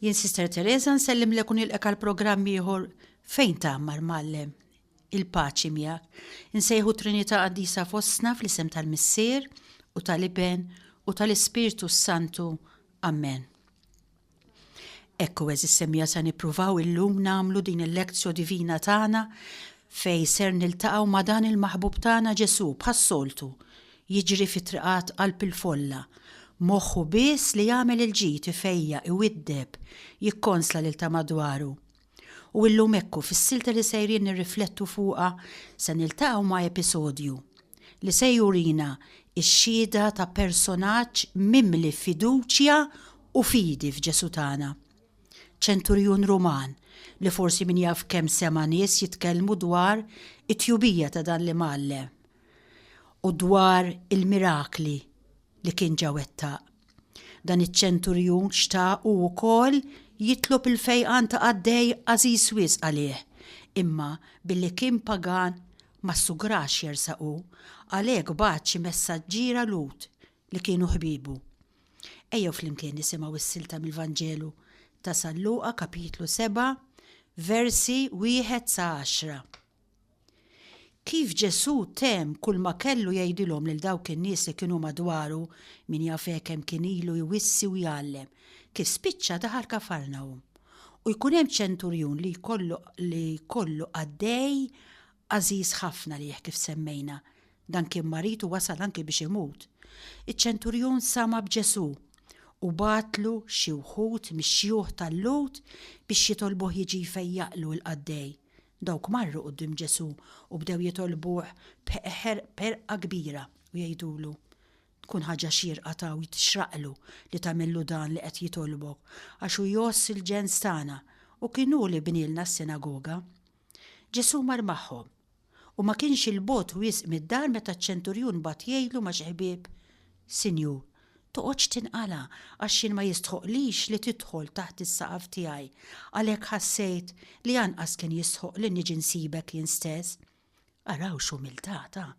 Jien Sister Teresa nsellimlek u nilqek għal programm ieħor Fejn Tagħmar Mgħallem. Il-paċi miegħek. Insejħu Trinità Qaddisa fostna fl-isem tal-Missier u tal-Iben u tal-Ispirtu s-Santu. Amen. Ekku eżis semmija sa nippruvaw illum namlu din il-lezzjo divina tagħna fej ser niltaqgħu ma' dan il-maħbub tagħna Ġesu bħas-soltu Jiġri fit-triqat qalb il-folla, moħħu biss li jagħmel il-ġid, ifejjaq, iwiddeb, jikkonsla lil ta' madwaru. U illum ekku fis-silta li sejrin nirriflettu fuqha se niltaqgħu ma' episodju li se jurina x-xhieda ta' personaġġ mimli fiduċja u fidi f'Ġesù tagħna. Ċenturjun Ruman li forsi min jaf kemm sema' nies jitkellmu dwar it-tjubija ta' dan l-imgħallem. u dwar il-mirakli li kien ġa wettaq. Dan iċ-ċenturjun xtaq hu wkoll jitlob il-fejqan ta' qaddej għażiż wisq għalih, imma billi kien pagan ma ssugrax jersaq hu, għalhekk bagħat xi messaġġiera Lhud li kienu ħbiebu. Ejjew flimkien nisimgħu s-silta mill-Vanġelu ta' San Luqa, Kapitlu 7, versi wieħed sa għaxra. Kif Ġesù temm kulma kellu jgħidilhom lil dawk in-nies li kienu madwaru, min jaf hekk kemm kien ilu jwissi u jgħallem, kif spiċċa daħal Kafarnahum. U jkun hemm ċenturjun li jkollu li jkollu qaddej għażiż ħafna lih kif semmejna, dan kien marid u wasal anki biex imut. Iċ-ċenturjun sama' b'Ġesù u bagħatlu xi wħud mix-xjuħ tal-Lhud biex jitolbuh jiġi jfejjaqlu l-qaddej, Dawk marru quddiem Ġesù u bdew jitolbuh b'ħerqa kbira u jgħidulu, Tkun ħaġa xierqa taw tixraqlu li tagħmillu dan li qed jitolbok, għax hu jgħożż il-ġens tagħna, u kien hu li bnielna s-sinagoga. Ġesù mar magħhom, u ma kienx 'il bogħod wisq mid-dar meta ċ-ċenturjun bagħat jgħidlu ma' xi ħbieb, Sinjur, Toqgħodx tinqala' għax jien ma jistħoqqlix li tidħol taħt is-saqaf tiegħi. Għalhekk ħassejt li anqas kien jistħoq li niġi nsibek jien stess. Araw x'umiltà ta'!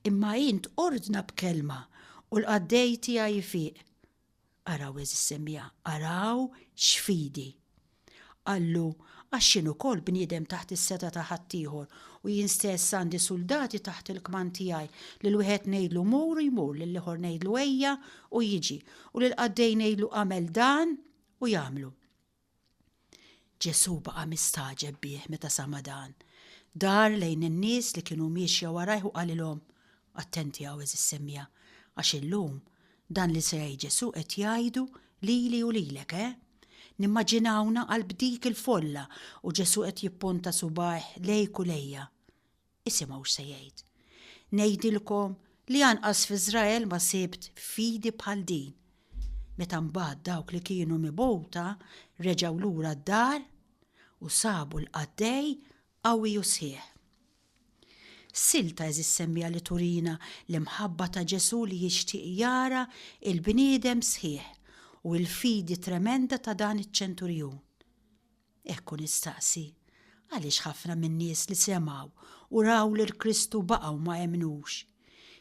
Imma int ordna b'kelma u l-qaddej tiegħi jfiq. Araw għeżież semmija, araw x'fidi! Qallu, Għax jien ukoll bniedem taħt is-setgħa ta' ħaddieħor, u jien stess għandi suldati taħt il-kmand tiegħi, lil wieħed ngħidlu 'Mur' u jmur, lill-ieħor ngħidlu 'Ejja' u jiġi, u lill-qaddej ngħidlu 'Agħmel dan' u jagħmlu. Ġesù baqa' mistagħġeb bih meta sama' dan. Dar lejn in-nies li kienu miexja warajh u qalilhom, Attenti hawn, għeżież semmiegħa, għax illum Dan li se jgħid Ġesù qed jgħidu lili u lilek, eh? Nimmaġinawna qalb dik il-folla u Ġesù qed jippunta subgħajh lejk u lejja. Isimgħu x'se jgħid. Ngħidilkom li anqas f'Iżrael ma sibt fidi bħal din. Meta mbagħad dawk li kienu mibgħuta reġgħu lura d-dar u sabu l-qaddej qawwi u sħiħ. Sil ta' Eżis Semmiegħa li turina l-imħabba ta' Ġesù li jixtieq jara l-bniedem sħiħ u l-fidi tremenda ta' dan iċ-ċenturjun. Hekk hu nistaqsi, għaliex ħafna min-nies li semgħu u raw lil Kristu baqgħu ma emmnux?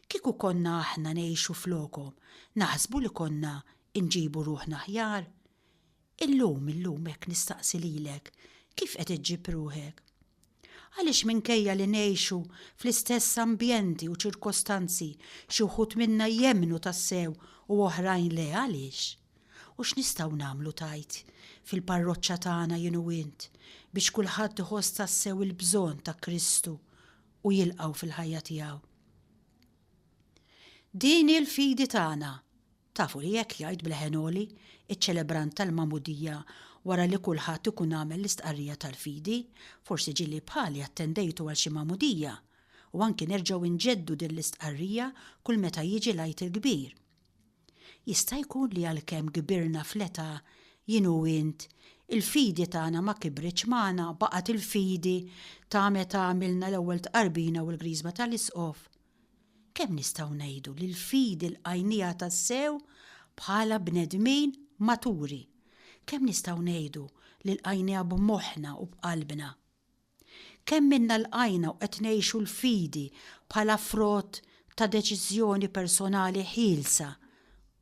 Kieku konna aħna ngħixu flokhom, naħsbu li konna nġibu ruħna aħjar? Illum, illum hekk nistaqsi lilek, kif qed iġġib ruħek? Għaliex minkejja li ngħixu fl-istess ambjenti u ċirkostanzi xi wħud minna jemmnu tassew u oħrajn le għaliex? U x'nistgħu nagħmlu tgħid fil-parroċċa tagħna jien u int biex kulħadd iħoss tassew il-bżonn ta' Kristu u jilqgħu fil-ħajja tiegħu? Din hi l-fidi tagħna. Tafu li hekk jgħid b'leħen għoli ċ-ċelebrant tal-Magħmudija wara li kulħadd ikun għamel l-istqarrija tal-fidi, forsi ġieli bħali attendejtu għal xi Magħmudija, u anki nerġgħu nġeddu din l-istqarrija kull meta jiġi l-Għid il-Kbir. Jista' jkun li għalkemm kbirna fl-età, jien u int, il-fidi tagħna ma kibritx magħna, baqgħet il-fidi ta' meta għamilna l-ewwel tqarbina u l-Griżma tal-Isqof. Kemm nistgħu ngħidu li l-fidi lqajnieha tassew bħala bnedmin maturi? Kemm nistgħu ngħidu li lqajnieha b'moħħna u b'qalbna? Kemm minna lqajna u qed ngħixu l-fidi bħala frott ta' deċiżjoni personali ħielsa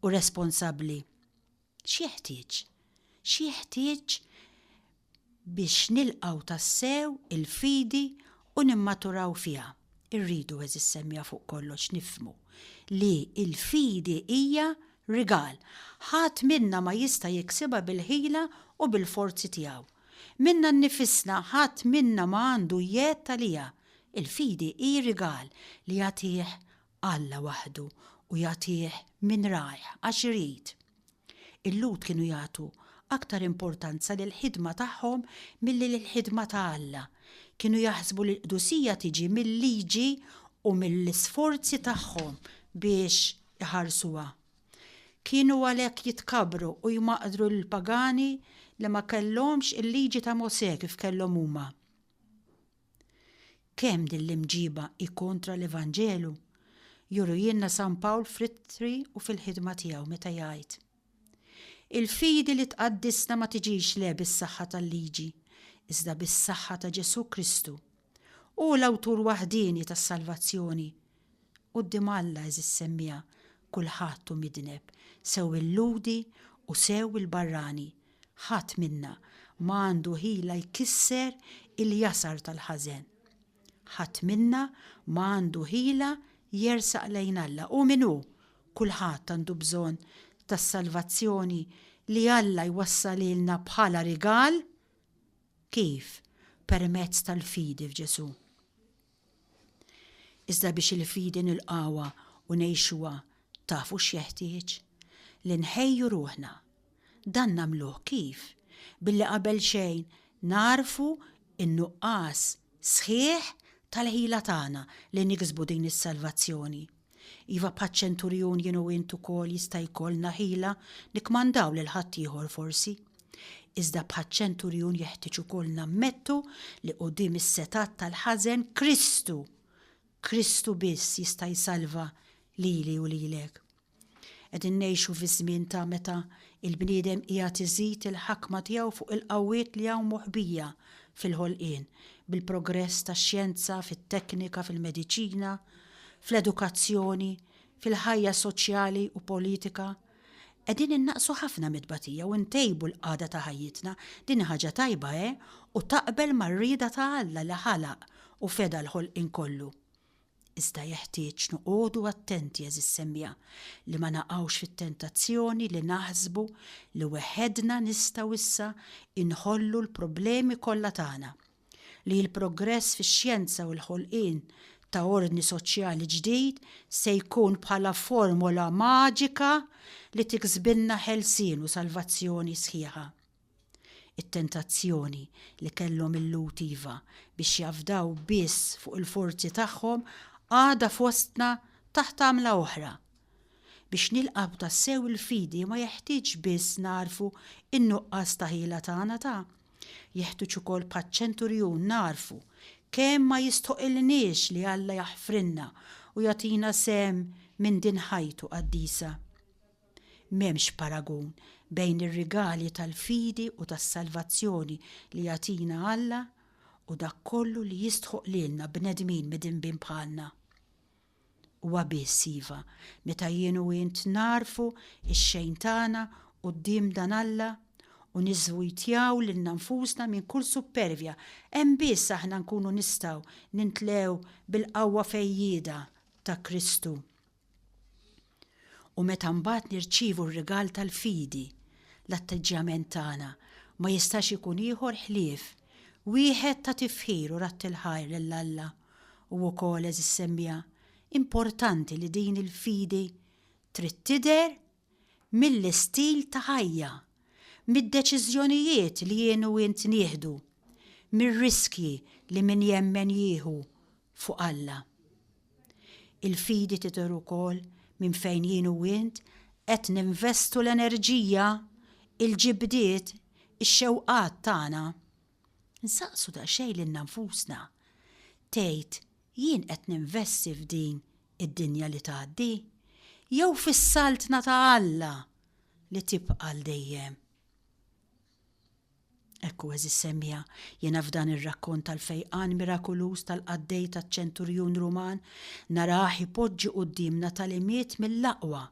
u responsabbli? X'jeħtieġ? X'jeħtieġ biex nilqgħu tassew il-fidi u nimmaturaw fiha? Irridu, għeżież semja fuq kollox, nifhmu li l-fidi hija rigal. Ħadd minna ma jista' jiksibha bil-ħila u bil-forzi tiegħu. Minna nnifisna ħadd minna ma għandu jedd għaliha. Il-fidi hi rigal li jagħtih Alla waħdu u jagħtih minn ragħajh għax irid. Il-Lhud kienu jagħtu aktar importanza lill-ħidma tagħhom milli lill-ħidma ta' Alla. Kienu jaħsbu li l-qdusija tiġi mil-liġi u mill-isforzi tagħhom biex iħarsuha. Kienu għalhekk jitkabbru u jmaqdru lill-pagani li ma kellhomx il-liġi ta' Mosè kif kellhom huma. Kemm din l-imġiba hi kontra l-Evanġelu jurujilna San Pawl fl-Ittri u fil-ħidma tiegħu meta jgħid, Il-fidi li tqaddisna ma tiġix le bis-saħħa tal-liġi, iżda bis-saħħa ta' Ġesù Kristu. Hu l-Awtur waħdieni tas-salvazzjoni, Quddiem Alla, għeżiż semmiegħa, kulħadd hu midneb, sew il-Lhudi u sew il-barrani. Ħadd minna ma għandu ħila jkisser il-jasar tal-ħażen. Ħadd minna ma għandu ħila jersaq lejn Alla. Hu min hu, kulħadd għandu bżonn tas-salvazzjoni li Alla jwassalilna bħala rigal. Kif? Permezz tal-fidi f'Ġesù. Iżda biex il-fidi nilqgħuha u ngħixuha tafu x'jeħtieġ? Li nħejju ruħna. Dan nagħmluh kif? Billi qabel xejn nagħrfu n-nuqqas sħiħ tal-ħila tagħna li niksbu din is-salvazzjoni. Iva bħaċ-ċenturjun jien u int ukoll jista' jkollna ħila nikkmandaw lil ħaddieħor forsi. Iżda bħaċ-ċenturjun jeħtieġ ukoll nammettu li quddiem is-setgħat tal-ħażen Kristu, Kristu biss jista' jsalva lili u lilek. Qegħdin ngħixu fi żmien ta' meta il-bniedem qiegħed iżid il-ħakma tiegħu fuq il-qawwiet li hawn moħbija fil-ħolqien, bil-progress tax-xjenza, fit-teknika, fil-mediċina, fl-edukazzjoni, fil-ħajja soċjali u politika, qegħdin innaqqsu ħafna mit-tbatija u ntejbu l-qagħda ta' ħajjitna. Din hi ħaġa tajba, eh, u taqbel mar-rieda ta' Alla li ħalaq u feda l-ħolqien kollu. Iżda jeħtieġ noqogħdu attenti, għeżież semmiegħa, li ma naqgħux fit-tentazzjoni li naħsbu li weħedna nistgħu issa inħollu l-problemi kollha tagħna. li l-progress fix-xjenza u l-ħolqien ta' ordni soċjali ġdid se jkun bħala formola maġika li tiksbilna ħelsien u salvazzjoni sħiħa. It-tentazzjoni li kellhom il-Lhud iva biex jafdaw biss fuq il-forzi tagħhom għadha fostna taħt għamla oħra. Biex nilqgħu tassew il-fidi ma jeħtieġx biss nagħrfu n-nuqqas ta' ħila tagħna ta' Jeħtuġ ukoll bħaċ-ċenturjun nagħrfu kemm ma jistħoqilniex li Alla jaħfrilna u jagħtina sehem minn din ħajtu qaddisa. M'hemmx paragun bejn ir-rigali tal-fidi u tas-salvazzjoni li jagħtina Alla u dak kollu li jistħoq lilna bnedmin midinbin bħalna. Huwa biss, iva, meta jien u int nagħrfu x-xejn tagħna quddiem dan Alla u niżżwitjaw lilna nfusna minn kull suppervja, hemm biss aħna nkunu nistgħu nintlew bil-qawwa fejjieda ta' Kristu. U meta mbagħad nirċievu r-rigal tal-fidi, l-atteġġjament tagħna ma jistax ikun ieħor ħlief wieħed ta' tifħir u radd il-ħajr lil Alla. U wkoll, għeżież semmiegħa, importanti li din il-fidi trid tidher mill-istil ta' ħajja, mid-deċiżjonijiet li jien u int nieħdu, mir-riskji li min jemmen jieħu fuq Alla. Il-fidi tidher ukoll minn fejn jien u int qed ninvestu l-enerġija, il-ġibdiet, ix-xewqat tagħna. Nsaqsu daqsxejn lilna nfusna, 'Tgħid jien qed ninvesti f'din id-dinja li tgħaddi, jew fis-Saltna ta' Alla li tibqa' għal dejjem? Hekk hu, għeżież semmiegħa, jiena f'dan ir-rakkont tal-fejqan mirakuluż tal-qaddej taċ-ċenturjun Ruman narah ipoġġi quddiemna tagħlimiet mill-aqwa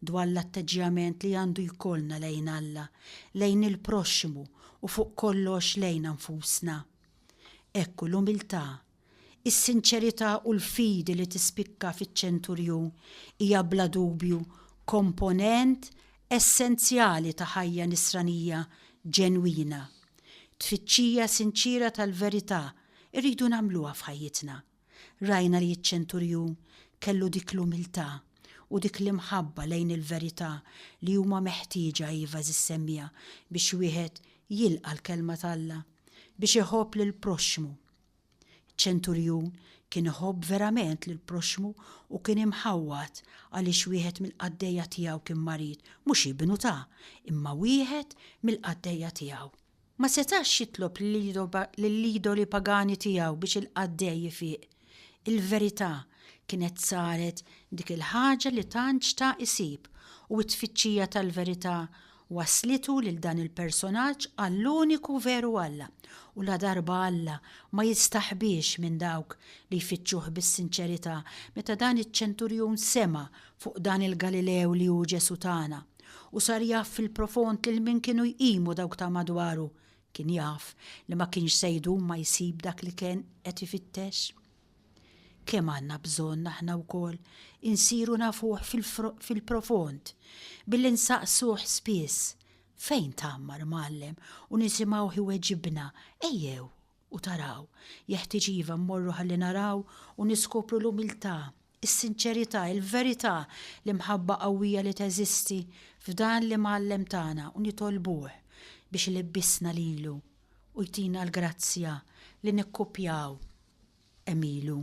dwar l-atteġġjament li għandu jkollna lejn Alla, lejn il-proxxmu u fuq kollox lejna nfusna. Hekk hu l-umiltà Is-sinċerità u l-fidi li tispikka fiċ-ċenturjun hija bla dubju komponent essenzjali ta' ħajja Nisranija ġenwina. Tfittxija sinċiera tal-verità rridu nagħmluha f'ħajjitna. Rajna li ċ-ċenturjun kellu dik l-umiltà u dik l-imħabba lejn il-verità li huma meħtieġa iva żis-semmiegħa biex wieħed jilqa' l-Kelma t'Alla, biex iħobb lill-proxxmu. Iċ-ċenturjun kien iħobb verament lill-proxxmu u kien imħawwad għaliex wieħed mill-qaddejja tiegħu kien marid, mhux ibnu ta', imma wieħed mill-qaddejja tiegħu. Ma setax jitlob lill-idoli pagani tiegħu biex il-qaddej ifiq. Il-verità kienet saret dik il-ħaġa li tant xtaq isib u t-tfittxija tal-verità wasslitu lil dan il-personaġġ għall-uniku veru Alla, u ladarba Alla ma jistaħbiex minn dawk li jfittxuh bis-sinċerità, meta dan iċ-ċenturjun sema' fuq dan il-Galilew li hu Ġesù tagħna, u sar jaf fil-profond lil min kienu jqimu dawk ta' madwaru, kien jaf li ma kienx se jdum ma jsib dak li kien qed ifittex. Kemm għandna bżonn aħna wkoll insiru nafuh fil-profond billi nsaqsuh spiss fejn tgħammar mgħallem u nisimgħuh iweġibna ejjew u taraw, jeħtieġ iva mmorru ħalli naraw u niskopru l-umiltà, is-sinċerità, il-verità, l-imħabba qawwija li teżisti f'dan l-Imgħallem tagħna u nitolbuh biex ilibbisna lilu u jtina l-grazzja li nikkupjaw hemm ilu.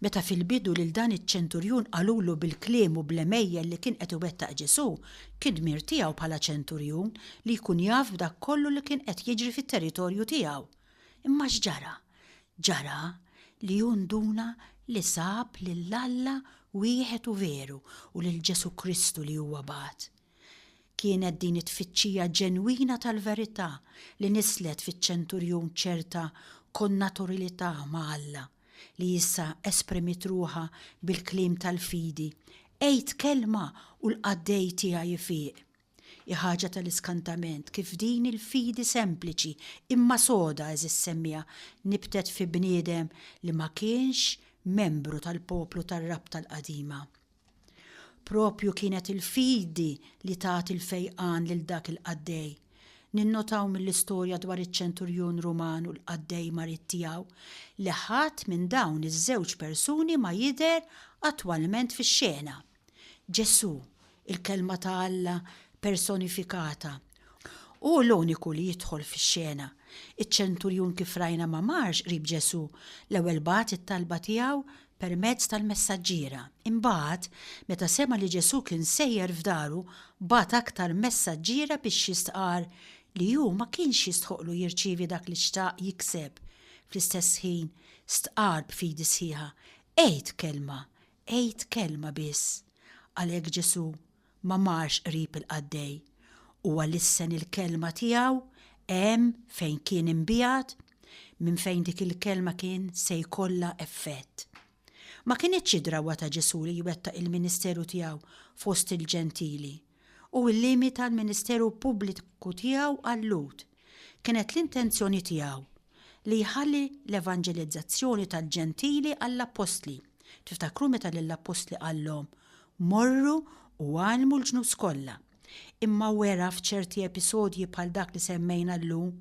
Meta fil-bidu lil dan iċ-ċenturjun qalulu bil-kliem u bl-għemejjel li kien qed iwettaq Ġesù, kien dmir tiegħu bħala ċenturjun li jkun jaf b'dak kollu li kien qed jiġri fit-territorju tiegħu. Imma x'ġara? Ġara li hu nduna li sab lil Alla wieħed u veru u lil Ġesù Kristu li huwa bagħat. Kienet din it-tfittxija ġenwina tal-verità li nisslet fiċ-ċenturjun ċerta konnaturalità ma' Alla, li issa esprimiet ruħha bil-kliem tal-fidi, Għid kelma u l-qaddej tiegħi jfiq. Hi ħaġa tal-iskantament kif din il-fidi sempliċi imma soda, għeżież semmiegħa, nibtet fi bniedem li ma kienx membru tal-poplu tar-Rabta l-qadima. Proprju kienet il-fidi li tat il-fejqan lil dak il-qaddej. Ninnotaw mill-istorja dwar iċ-ċenturjun Ruman u l-qaddej marid tiegħu li ħadd minn dawn iż-żewġ persuni ma jidher attwalment fix-xena. Ġesù, il-Kelma ta' Alla personifikata, Hu l-uniku li jidħol fix-xena. Iċ-ċenturjun kif rajna ma marx qrib Ġesù, l-ewwel bagħat it-talba tiegħu permezz tal-messaġġiera. Imbagħad, meta sema' li Ġesù kien sejjer f'daru, bagħat aktar messaġġiera biex jistqarr li hu ma kienx jistħoqqlu jirċievi dak li xtaq jikseb. Fl-istess ħin, stqarr b'fidi sħiħa, Għid kelma, għid kelma biss. Għalhekk Ġesù ma marx qrib il-qaddej, huwa lissen il-kelma tiegħu hemm fejn kien imbiegħed, minn fejn dik il-kelma kien se jkollha effett. Ma kinitx id-drawwa ta' Ġesù li jwettaq il-ministeru tiegħu fost il-Ġentili u llimita l-ministeru pubbliku tiegħu għal-Lhud. Kienet l-intenzjoni tiegħu li jħalli l-evanġelizzazzjoni tal-Ġentili għall-appostli. Tiftakru meta lill-appostli qallhom, Morru u għallmu l-ġnus kollha. Imma wera f'ċerti episodji bħal dak li semmejna llum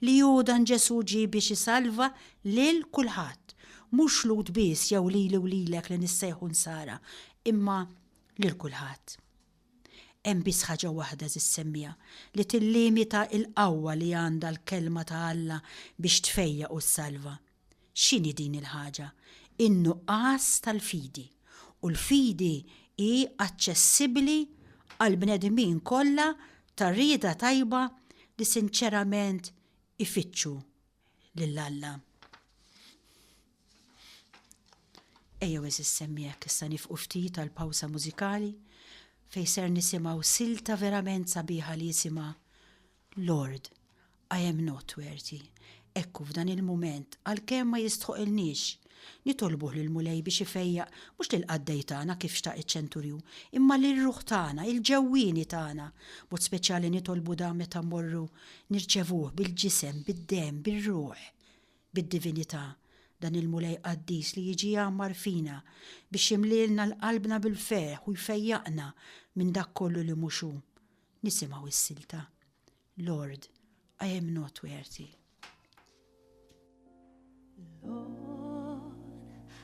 li hu dan Ġesù ġie biex isalva lil kulħadd, mhux Lhud biss jew lili u lilek li nissejħu Nsara, imma lil kulħadd. Hemm biss ħaġa waħda żis-semmiegħa li tillimita l-qawwa li għandha l-Kelma ta' Alla biex tfejjaq u ssalva. X'inhi din il-ħaġa? In-nuqqas tal-fidi. U l-fidi hi aċċessibbli għall-bnedmin kollha ta' rieda tajba li sinċerament ifittxu lil Alla. Ejjew għeżież semmiegħek issa nifqu ftit għal pawsa mużikali fejn ser nisimgħu silta verament sabiħa li jisimha Lord, I am not worthy. Ekku f'dan il-mument għalkemm ma jistħoqilniex nitolbuh lill-Mulej biex ifejjaq mhux lill-qaddej tagħna kif xtaq iċ-ċenturju, imma lir-ruħ tagħna, il-ġewwieni tagħna. B'mod speċjali nitolbu dan meta mmorru nirċevuh bil-ġisem, bid-demm, bir-ruħ. bid-divinità, dan il-Mulej qaddis li jiġi jgħammar fina biex jimlielna 'l qalbna bil-ferħ u jfejjaqna minn dak kollu li mhux hu. Nisimgħu s-silta, Lord, I am not worthy. Lord,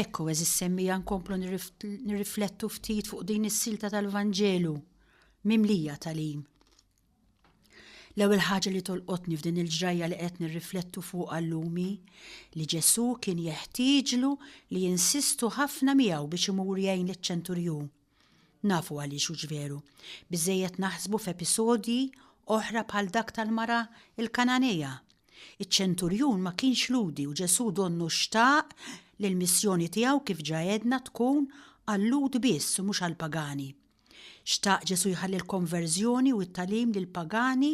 Ekku, eżis semmija nkomplu nirriflettu ftit fuq din is-silta tal-Vanġelu, mimlija tal-im. L-ewwel ħaġa li tolqotni f'din il-ġrajja li qed nirriflettu fuq għallumi li Ġesu kien jeħtieġlu li jinsistu ħafna miegħu biex imur jgħin liċ-ċenturjun. Nafu għaliex hux veru. Biżżejjed naħsbu f'episodji oħra bħal dak tal-mara l-Kananea. Iċ-ċenturjun ma kienx lhudi u Ġesù donnu xtaq li l-missjoni tiegħu kif ġa għedna tkun għal-Lhud biss u mhux għall-pagani. Xtaq Ġesù jħalli l-konverżjoni u t-tagħlim lill-pagani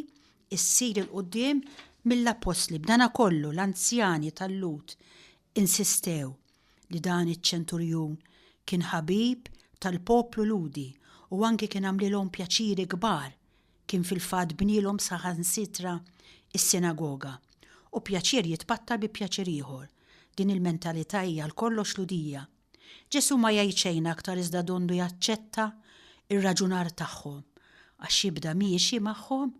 ssir 'il quddiem mill-appostli. B'danakollu l-anzjani tal-Lhud insistew li dan iċ-ċenturjun kien ħabib tal-poplu Lhudi u anki kien għamlilhom pjaċiri kbar, kien fil-fatt bnielhom saħansitra s-sinagoga. U pjaċir jitpattar bi pjaċir ieħor. Din il-mentalità hija għal kollox Lhudija. Ġesù ma jgħid xejn aktar iżda donnu jaċċetta r-raġunar tagħhom għax jibda miexi magħhom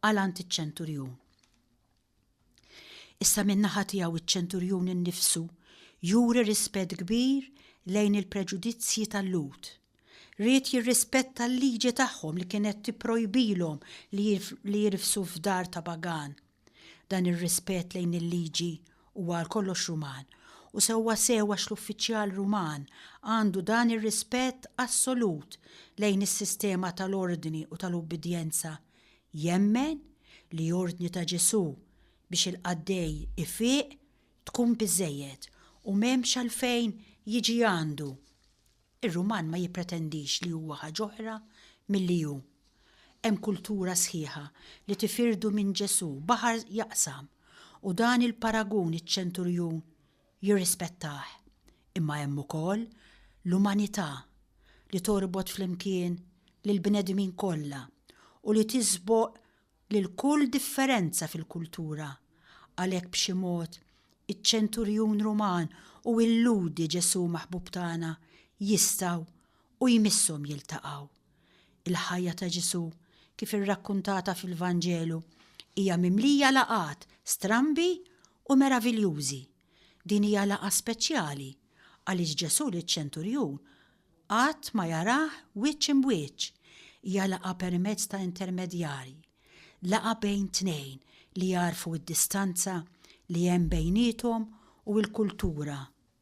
għal għand iċ-ċenturjun. Issa min-naħa tiegħu iċ-ċenturjun innifsu juri rispett kbir lejn il-preġudizzji tal-Lhud. Ried jirrispetta l-liġi tagħhom li kienet tipprojbilhom li jirfsu f'dar ta' pagan. Dan ir-rispett lejn il-liġi huwa għal kollox Ruman, u sewwa sew għax l-uffiċjal Ruman għandu dan ir-rispett assolut lejn is-sistema tal-ordni u tal-ubbidjenza Jemmen li ordni ta' Ġesù biex il-qaddej ifiq tkun biżżejjed u m'hemmx għalfejn jiġi għandu. Ir-Ruman ma jippretendix li huwa ħaġ'oħra milli hu. Hemm kultura sħiħa li tifirdu minn Ġesù baħar jaqsam u dan il-paragun iċ-ċenturjun jirrispettah, imma hemm ukoll l-umanità li torbot flimkien lill-bnedmin kollha u li tiżboq lil kull differenza fil-kultura. Għalhekk b'xi mod iċ-ċenturjun Ruman u illudi Ġesù maħbub tagħna jistgħu u jmisshom jiltaqgħu. Il-ħajja ta' Ġesù kif irrakkuntata fil-Vanġelu hija mimlija laqgħat strambi u meraviljużi. Din hija laqgħa speċjali għaliex Ġesù liċ-ċenturjun qatt ma jarah wiċċ imb'wiċċ. Hija laqgħa permezz ta' intermedjarji, laqgħa bejn tnejn li jagħrfu d-distanza li hemm bejniethom u l-kultura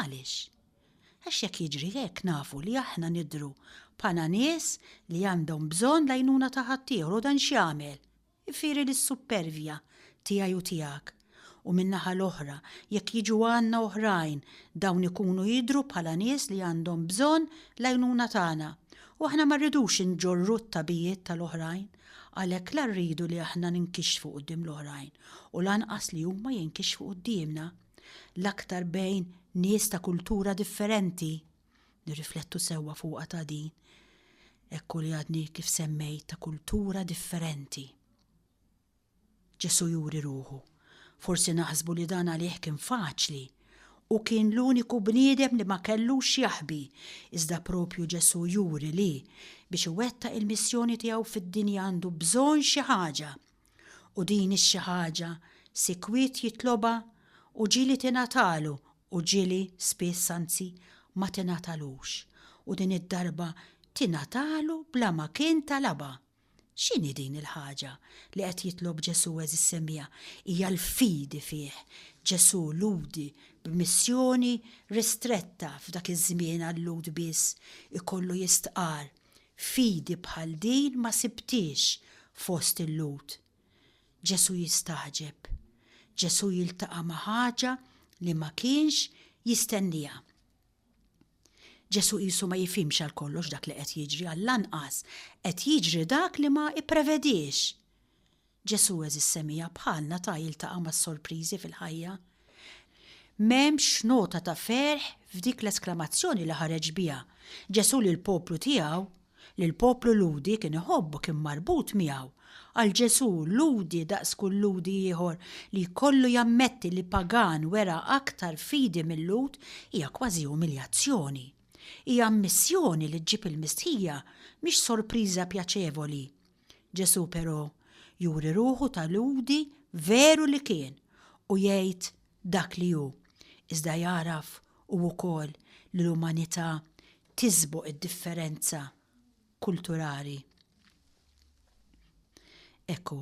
Għaliex? Għax jekk jiġri hekk nafu li aħna nidhru bħala nies li għandhom bżonn l-għajnuna ta' ħaddieħor u dan x'jagħmel? Ifieri lis-suppervja tiegħi u tiegħek. U min-naħa l-oħra, jekk jiġu għandna oħrajn, dawn ikunu jidhru bħala nies li għandhom bżonn l-għajnuna tagħna. U aħna ma rridux inġorru t-tagħbijiet tal-oħrajn. Għalhekk la rridu li aħna ninkixfu quddiem l-oħrajn u lanqas li huma jinkixfu quddiemna. l-aktar bejn nies ta' kultura differenti, nirriflettu sewwa fuqha ta' din, ekku li għadni kif semmejt ta' kultura differenti. Ġesu juri ruħu, forsi naħsbu li dan għalih kien faċli, u kien l-uniku bniedem li ma kellux jaħbi, iżda propju Ġesu juri li biex iwettaq il-missjoni tiegħu fid-dinja għandu bżonn xi ħaġa U din hi xi ħaġa sikwit jitlobha u ġieli tingħatalu u ġieli spiss anzi ma tingħatalux u din id-darba tingħatalu bla ma kien talabha. X'inhi din il-ħaġa li qed jitlob Ġesù għeżież semmiegħa? Hija l-fidi fih. Ġesù Lhudi b'missjoni ristretta f'dak iż-żmien għal-Lhud biss ikollu jistqarr Fidi bħal din ma sibthiex fost il-Lhud. Ġesù jistagħġeb. Ġesù jiltaqa' ma' ħaġa li ma kienx jistennieha. Ġesù qisu ma jifhimx għal kollox dak li qed jiġri, għall-anqas qed jiġri dak li ma ipprevediex. Ġesù għeżież semija bħalna ta' jiltaqa' mas-sorpriżi fil-ħajja. M'hemmx nota ta' ferħ f'dik l-esklamazzjoni li ħareġ biha. Ġesù li l-poplu tiegħu, li l-poplu Lhudi kien iħobbu kien marbut miegħu. Għal Ġesù, Lhudi daqs kull Lhudi ieħor li jkollu jammetti li pagan wera aktar fidi mil-Lhud hija kważi umiljazzjoni. Hija ammissjoni li ġġib il-mistħija mhix sorpriża pjaċevoli. Ġesù però juri ruħu ta' Lhudi veru li kien u jgħid dak li hu, iżda jagħraf hu wkoll li l-umanità tiżboq id-differenza kulturali. Hekk hu,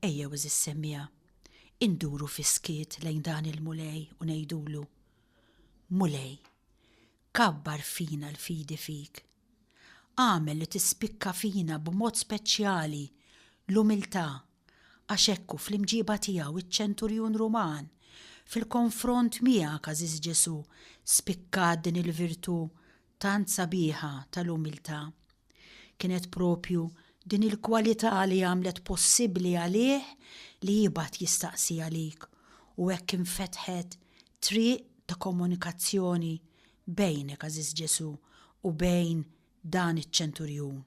ejjew għeżież semmiegħa, induru fis-skiet lejn dan il-Mulej u ngħidulu, Mulej, Kabbar fina l-fidi fik. Agħmel li tispikka fina b'mod speċjali l-umiltà, għax hekk hu fl-imġieba tiegħu iċ-ċenturjun Ruman, Fil-konfront miegħek, għażiż Ġesù, spikkat din il-virtù tant sabiħa tal-umiltà. Kienet proprju din il-kwalità li għamlet possibbli għalih li jibgħat jistaqsi għalik u hekk infetħet triq ta' komunikazzjoni bejnek, għażiż Ġesù, u bejn dan iċ-ċenturjun.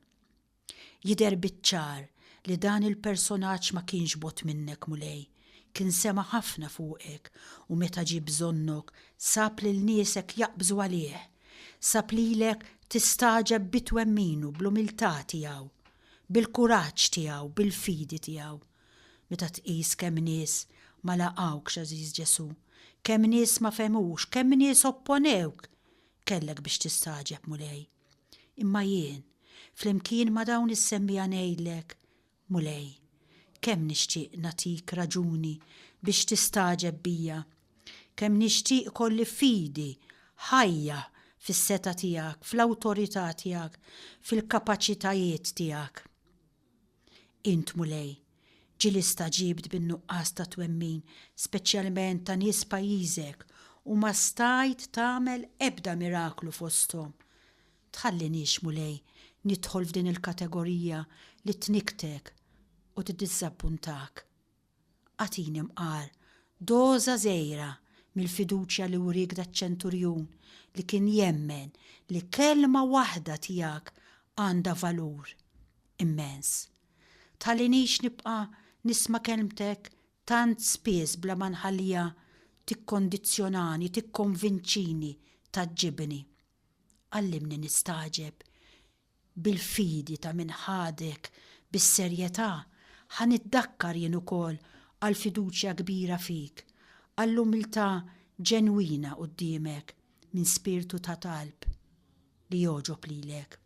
Jidher biċ-ċar li dan il-personaġġ ma kienx bogħod minnek, Mulej, kien sema' ħafna fuqek u meta ġie bżonnok sab lil niesek jaqbżu għalih, sab lilek tistagħġeb bi twemminu, bl-umiltà tiegħu, bil-kuraġġ tiegħu, bil-fidi tiegħu. Meta tqis kemm nies ma laqgħux, għażiż Ġesù, kemm nies ma fehmux, kemm nies opponewk, kellek biex tistagħġeb, Mulej. Imma jien, flimkien ma' dawn is-semmiegħa ngħidlek, Mulej, kemm nixtieq nagħtik raġuni biex tistagħġeb bija. Kemm nixtieq ikolli fidi, ħajja, fis-setgħa tiegħek, fl-awtorità tiegħek, fil-kapaċitajiet tiegħek. Int, Mulej, ġieli staġibt bin-nuqqas ta' twemmin, speċjalment ta' nies pajjiżek, u ma stajt tagħmel ebda miraklu fosthom. Tħalliniex, Mulej, nidħol f'din il-kategorija li tnikktek u tiddiżżappuntak. Agħtini mqar, doża żgħira mill-fiduċja li wriek daċ-ċenturjun li kien jemmen li kelma waħda tiegħek għandha valur immens. Tħallinix nibqa' nisma' kelmtek tant spiss bla ma nħalliha tikkondizzjonani, tikkonvinċini, tgħaġġibni. Għallimni nistagħġeb bil-fidi ta' min ħadek bis-serjetà, ħa niddakkar jien ukoll għall-fiduċja kbira fik, għall-umiltà ġenwina quddiemek minn spirtu ta' talb li jogħġob lilek.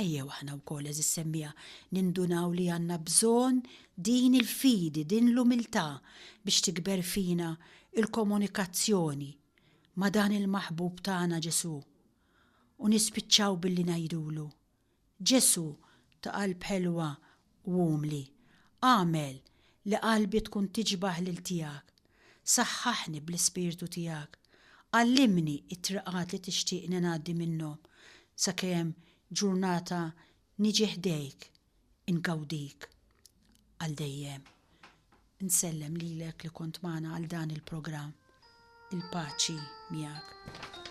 Ejjew aħna wkoll, għeżież semmiegħa, nindunaw li għandna bżonn din il-fidi, din l-umiltà biex tikber fina l-komunikazzjoni ma' dan il-Maħbub tagħna Ġesù, u nispiċċaw billi ngħidulu, Ġesù ta' qalb ħelwa u umli, agħmel li qalbi tkun tiġbah lil tiegħek, saħħaħni bl-Ispirtu tiegħek, għallimni t-triqat li tixtieqni ngħaddi minnhom sakemm ġurnata Niġi ħdejk, ingawdik għal dejjem. Insellem lilek li kont magħna għal dan il-programm. Il-paċi miegħek.